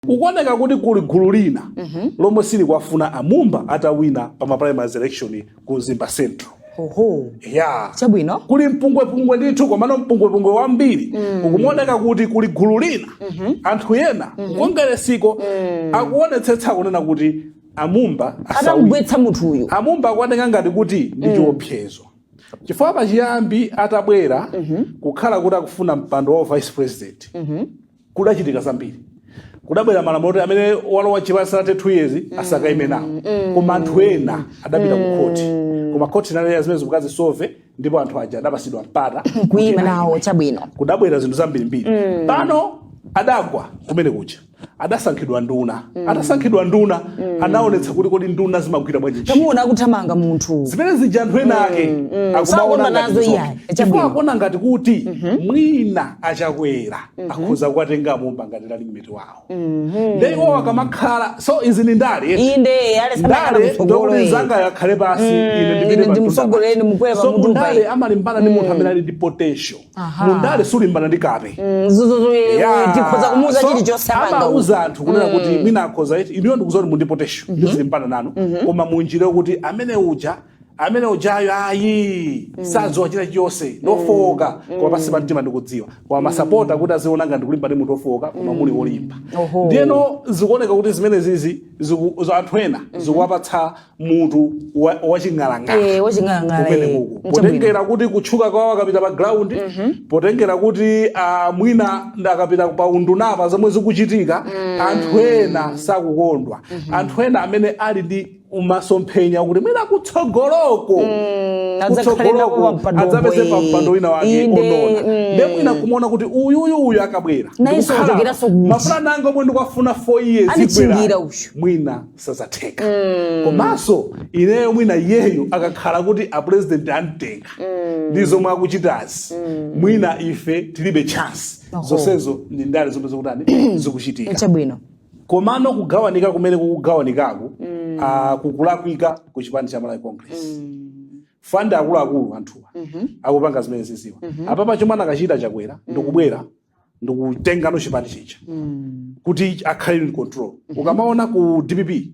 zikuoneka kuti kuli gulu lina lomwe silikuwafuna amumba atawine pa ma primaries election ku mzimba central oho ya chabwino kuli mpungwepungwe ndithu komano mpungwepungwe wambiri ukumaoneka kuti kuli gulu lina anthu ena kukongeresiku akuonetsetsa kunena kuti amumba asawina atamgwetsa munthu uyu amumba akuoneka ngati kuti ndi chiopsezo chifukwa pachiyambi atabwera kukhala kuti akufuna mpando wa vice president kudachitika zambiri kudabwera malamulo oti amene walowa chipani sanathe 2 years asakaime nawo koma anthu ena adapita ku khoti koma khoti inalera zimene zija kazisove ndipo anthu aja adapatsidwa mpata kuima nawo chabwino kudabwera zinthu zambirimbiri pano adagwa kumene kuja adasankhidwa nduna atasankhidwa nduna anaonetsa kuti kodi nduna zimagwira bwanji ntchito. tamuona akuthamanga munthu zimene zija anthu ena ake Sakondwa akumaona ngati nazo zokha. iyayi. chifukwa Chabwino. akuona ngati kuti mwina achakwera akhoza kuwatenga amumba ngati running mate wawo nde iwo akamakhala so izi ni ndale eti. inde yale sambakhala ndale kutsogolo ndokuti iyi. zanga yakhale pansi ine ine ndipite pa ndimsogolere mtunda. ndimukwere pa so mutu mundale paja. amalimbana ndi munthu amene ali ndi potential Aha. mundale sulimbana ndi kape zuzuzu Yeah. tikhoza kumuuza So, chilichonse amanga amauza anthu kunena kuti mina akhoza iti ineyo ndikudziwa kuti muli ndi potential ndizilimbana nanu koma munjira kuti amene uja amene ujayo ayi sadziwa china chilichonse ndofowoka koma pansi pa mtima ndikudziwa koma masapota kuti aziona ngati ndikulimbana ndi munthu ofowoka koma muli wolimba Oho. ndiyeno zikuoneka kuti zimenezizi ziku- za anthu ena zikuwapatsa mutu wa- waching'alang'ala Eh, waching'alang'ala, Kumene eh. kuku. Nchabwino. potengera kuti kutchuka kwawo akapita pa ground potengera kuti ah, mwina akapita pa undunapa zomwe zikuchitika anthu ena sakukondwa anthu ena amene ali ndi masomphenya akuti kuti mwina kutsogoloko Mm, adzakhale nawo kutsogoloko pampando adzapeze omwe. pampando wina wake Inde, olo ndiye mm. nde mwina kumaona kuti uyuyu uyu akabwera Naye ndikukhala, sochekeranso kuti. m'mafuna nanga zomwe ndikufuna 4 years Anichingira ibwera, uyu. mwina sizatheka komanso ineyo mwina iyeyo akakhala kuti a president amtenga ndi zomwe akuchitazi mwina ife tilibe chance zonsezo ndi ndale zomwe zikutani zikuchitika chabwino komano kugawanika kumeneku kugawanikaku mm. uh, kukulakwika ku chipani cha malawi congress mm. chifukwa akuluakulu anthuwa mm -hmm. akupanga zimene akuziwa mm -hmm. apapa chomwe anakachita chakwera mm. ndikubwera ndikutenga no chipanichi cha mm. kuti akhale in control mm -hmm. ukamaona ku dpp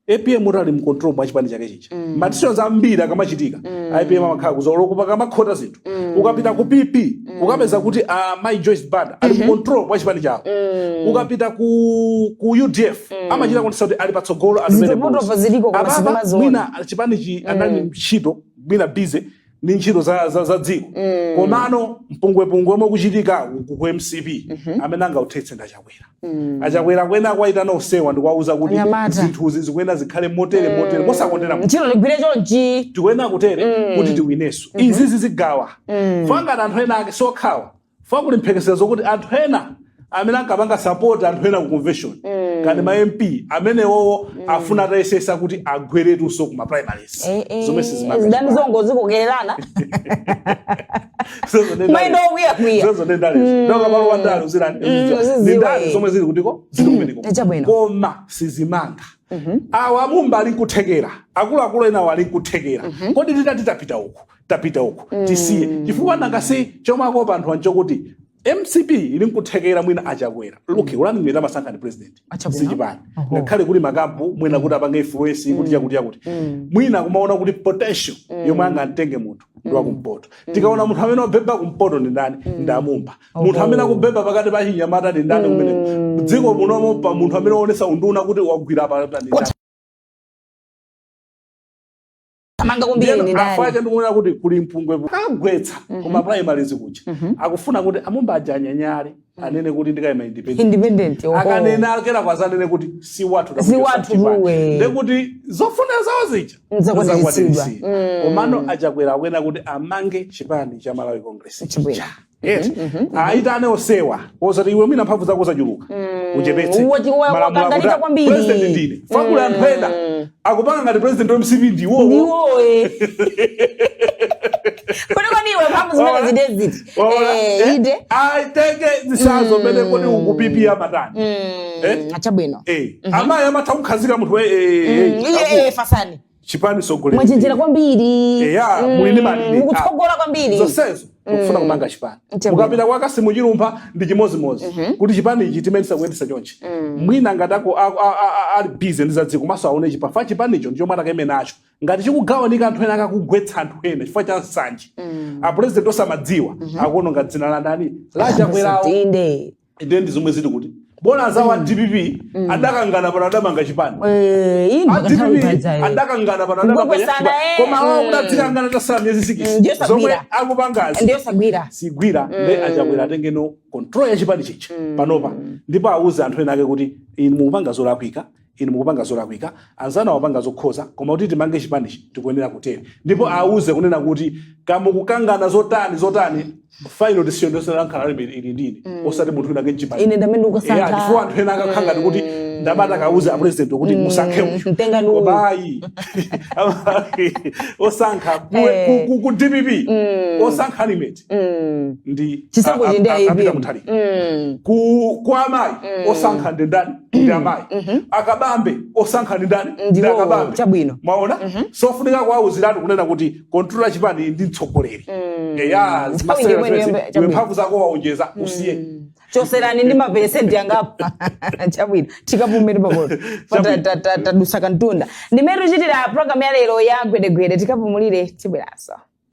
apm amati ali mu control mwa chipani chake chija mm. ma decisions ambiri akamachitika mm. apm amakhala kutsogoloku pakamakhota zinthu mm. ukapita ku pp mm. ukapeza kuti uh, mai joyce banda ali mu mm-hmm. control mwa chipani chawo mm. ukapita ku, ku udf mm. amachita kuonetsa kuti ali patsogolo amene mwina chipanichi mm. anali ntchito mwina busy ndi ntchito za, za, za dziko mm. komano mpungwepungwe omwe ukuchitika ku, ku mcp mm -hmm. amene angauthetse ndi achakwera mm. achakwera akuyenera kuwayitana onsewa ndikuwauza kuti zinthuzi zikuyenera zikhale motere mm. motere mosakondera ntchito igwire chonchi tikuyenera kutere mm. kuti tiwinenso mm -hmm. izizi zigawa mm. fa ngati anthu ena ake sokhawa fa kuti kuli mphekesera zokuti anthu ena amene ankapanga sapoti anthu ena ku convention ngati ma mp amenewowo afuna atayesesa kuti agweretunso ku ma primaries Eh, eh, zomwe sizimapita. zidani zongozikokererana Zozo ndi Mayindo ndale. okwiya-kwiya. Zozo ndi ndale. Ndoka palo wa ndale uzira- uzidziwa. uzidziwa, Ndi ndale eh. zomwe zili kutiko zili kumeneko Eh, chabwino. koma sizimanga a mumba ali nkuthekera akuluakulu enawo ali nkuthekera kodi titati tapita uku tapita uko tisiye chifukwa nanga si chomwe akopa anthu nchokuti mcp ili nkuthekera mwina achakwera luke ulani mwina amasankha ni president Achakwera? sichipani Oho. ngakhale kuli makampu mwina kuti apange influence kuti chakuti chakuti mwina kumaona kuti potential yomwe angamtenge munthu ndi wakumpoto tikaona munthu amene wabheba kumpoto ndi ndani ndi amumba munthu amene akubheba pakati pa chinyamata ndi ndani kumeneko dziko munomo pa munthu amene waonesa unduna kuti wagwira pa ndani amanga kwambiri Ndiyeno ndi afu ake ndani ndikuona kuti kuli mpungwe ku- kagwetsa ku ma primaries kuja akufuna kuti amumba aja anyanyale anene kuti ndikaima independent independent oho. akanena a chakwera azanene kuti si wathu Si wathu muwe. ndekuti zofuna zawo zija Nzakwaniritsidwa. zakwaniritsidwa. komano achakwera akuyenera kuti amange chipani cha malawi congress Chibwera. eti mm -hmm. aitane osewa osati iwe mwina mphamvu zako zachuluka mm. uchepetse malamulo kwambiri president ndine fakula mm. anthu ena akupanga ngati president wa mcp ndiwo ndiwo eh kodi kodi iwe mphamvu zimene wazitenga kuti eh ide i take the size of mene kodi ukupipi ya matani mm. eh achabwino eh mm-hmm. amayi amatha kukhazika munthu eh eh, eh, eh, eh fasani chipani sogoleri mwachenjera kwambiri Eya, Mm, muli ndi malire. mukutsogola kwambiri zonsezo tikufuna kupanga chipani Nchembe. mukapita kwa kasimu chilumba ndi chimodzimodzi kuti chipani ichi timayendesa kuyendesa chonchi mwina ngati ako- a- a- a- a- ali bize ndi zadziko maso aone chifa chipanicho ndi chomwe atakayime nacho ngati chikugawanika anthu ena akakugwetsa anthu ena chifukwa cha nsanje apurezidenti osamadziwa akuononga dzina la ndani la achakwerawo Inde. inde ndi zomwe zili kuti bola azawo a dpp adakangana pano adamanga chipani Eh, iyi a mpaka nthawi dpp ipanazayo adakangana pano adamanga Kukwesana, chipani eh. koma awo Mm. kutayirana tasala miyezi Mm, sikisi ndiyo zomwe sagwira. akupangazi ndiye sagwira sigwira nde achakwera atengeno control ya chipani chija panopa ndipo awuze anthu ena ake kuti inu mukupanga zolakwika Inu mukupanga zolakwika, anzanu amapanga zokhoza, koma kuti timange chipanichi tikuyenera kutere. Ndipo awauze kunena kuti ka mukukangana zotani, zotani, final decision yonse ili ndi ine, osati munthu winawake mchipani. Ine ndi amene Eya, ndikusankha. chifukwa anthu ena akakhala ngati kuti akumati akauze a president kuti musankhe uyu. mtengani uyu. Koma ayi. Osankha ku- Eh. ku- ku- ku DPP. Osankha running mate. Mm. Ndi Chisankho a- a- ndi a- a- a Peter APM. Mutharika. Mm. Ku kwa amayi osankha ndi ndani? ndi amayi Mhm. a Kabambe osankha ndi ndani ndi Ndiwo a Kabambe chabwino. mwaona Mhm. sofunika kuwauziratu kunena kuti controller wa chipani ndi mtsogoleri Mm. eya Nthawi ndi imeneyo iwe chabwino. mphamvu zako waonjeza usiye Mm. choserani ndi maperesenti angapo chabwino tikapumire pamenepo Chabwino. tadusa kantunda ndimene tikuchitira programu ya lero ya gwedegwede tikapumulire tibweranso